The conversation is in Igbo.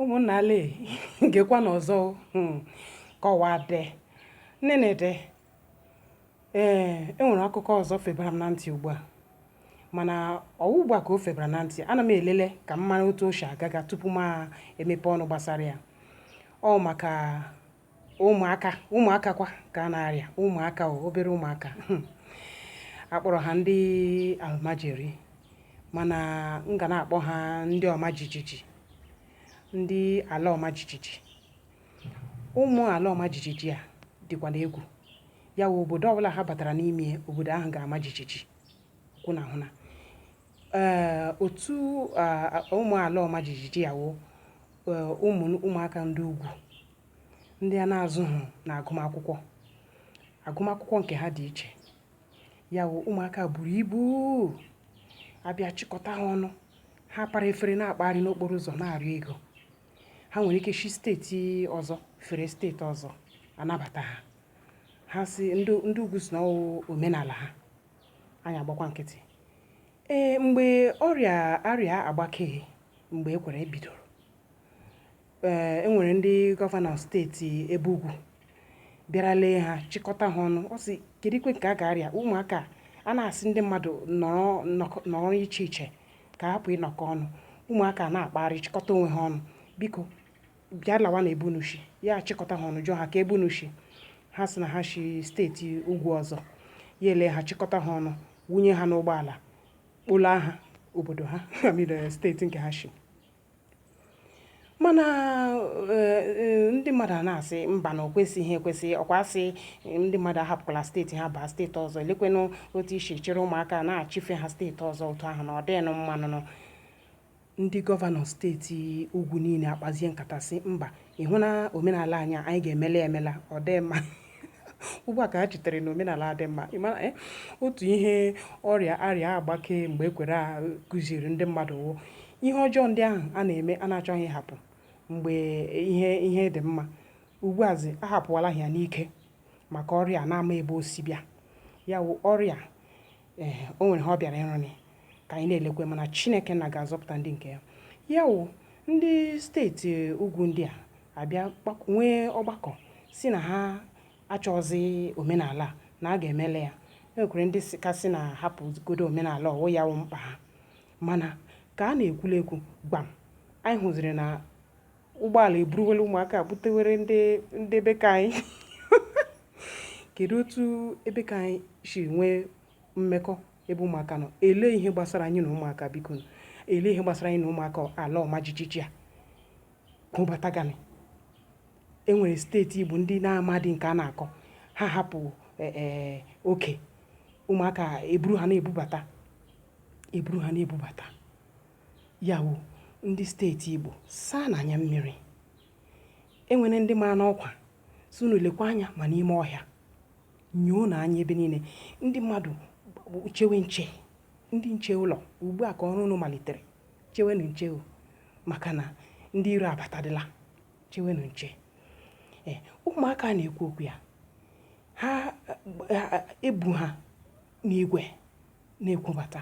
ụmụnna ale gekwanụ ọzọ hmm, kọwade nnenede ee enwere akụkọ ọzọ febara m na ntị ugbu a mana ọwụ ugbu a ka o febara na ntị ana m elele ka m mara otu o shi aga aga tupu m emepe ọnụ gbasara ya ọwụ maka ụmụaka ụmụaka kwa ka a na-arịa ụmụaka o obere ụmụaka akpọrọ ha ndị almajiri mana m ga na-akpọ ha ndị ọma jijiji ndị ala ọma jijiji ụmụ ala ọma jijiji a dịkwanụ egwu ya wụ obodo ọbụla ha batara n'ime obodo ahụ ga-ama jijiji kwụ na hụ na ee otu ụmụ ala ọma jijiji ya wụ eh, ụmụ ụmụaka ndị ugwu ndị a na-azụghị na agụmakwụkwọ agụmakwụkwọ nke ha dị iche ya wụ ụmụaka buru ibu abịa chịkọta ha ọnụ ha para efere na-akpagharị n'okporo ụzọ na-arịọ ego ha nwere ike shi steeti ọzọ fere steeti ọzọ anabata ha ha sị ndị ugwu sị na omenala ha anyị agbakwa nkịtị Ee, mgbe ọrịa arịa agbake mgbe e kwere bidoro, ee, e nwere ndị gọvanọ steeti ebe ugwu bịara lee ha chịkọta ha ọnụ sị kedukwe nke a ga-arịa ụmụaka a na-asị ndị mmadụ nọrọ nọrọ iche iche ka hapụ ịnọkọ ọnụ ụmụaka na-akpagharị chịkọta onwe ha ọnụ biko bịa lawa na ebe unu shi ya achịkọta ha ọnụ jụọ ha kee ebe unu shi ha sị na ha shi steeti ugwu ọzọ ya ele ha chịkọta ha ọnụ wunye ha n'ụgbọala kpọlaa ha obodo ha amire eh, steeti nke ha shi mana eh, eh, ndị mmadụ a na-asị mba na okwesịghị ekwesị ọkwa asị ndị mmadụ ahapụkwala steeti ha baa steeti ọzọ elekwenụ otu e shi chịrị ụmụaka na-achịfe ha steeti ọzọ otu ahụ na ọ dịghịnụ mma nụ Ndị gọvanọ steeti ugwu niile akpazie nkata sị mba, ị hụ na omenala anyị a, anyị ga-emela ya emela, ọ dị mma. Ugbu a ka ha chetere na omenala a dị mma. Ị mara, eh, otu ihe ọrịa arịa agbake mgbe ekwere a kụziiri ndị mmadụ wụ ihe ọjọọ ndị ahụ a na-eme a na-achọghị ịhapụ mgbe ihe ihe dị mma. Ugbu azi ahapụwala ha ya n'ike maka ọrịa a na-ama ebe o si bịa. Ya wụ ọrịa Ee, o nwere ihe ọ bịara ịrụnị ka anyị na-elekwe mana Chineke nna ga-azọpụta ndị nke ya. Ya wụ ndị steeti ugwu ndị a abịa nwee ọgbakọ si na ha achọzi omenala na a ga-emela ya enwekwere ndị ka sị na hapụgodo omenala ọwụ ya wụ mkpa ha mana ka a na-ekwula ekwu gbam anyị hụziri na ụgbọala eburuwela ụmụaka butewere ndị be ka anyị kedu otu ebe ka anyị si nwee mmekọ ebe ụmụaka nọ ele ihe gbasara anyị na ụmụaka biko ele ihe gbasara anyị na ụmụaka ala ọma jijiji a kụbatagani enwere steeti Igbo ndị na-amadị nke a na-akọ ha hapụ e, e, oke ụmụaka eburu ha na-ebubata eburu ha na-ebubata Ya wụ ndị steeti Igbo saanụ anya mmiri. E nwere ndị mara unu ọkwa sị unu lekwa anya ma n'ime ọhịa nyoo na anya ebe niile ndị mmadụ chewe nche ndị nche ụlọ ugbu a ka ọrụ unu malitere chewenụ nche o maka na ndị iro abatadịla chewenụ nche ee ụmụaka a na-ekwu okwu ya ha ebu ha n'igwe na-ekubata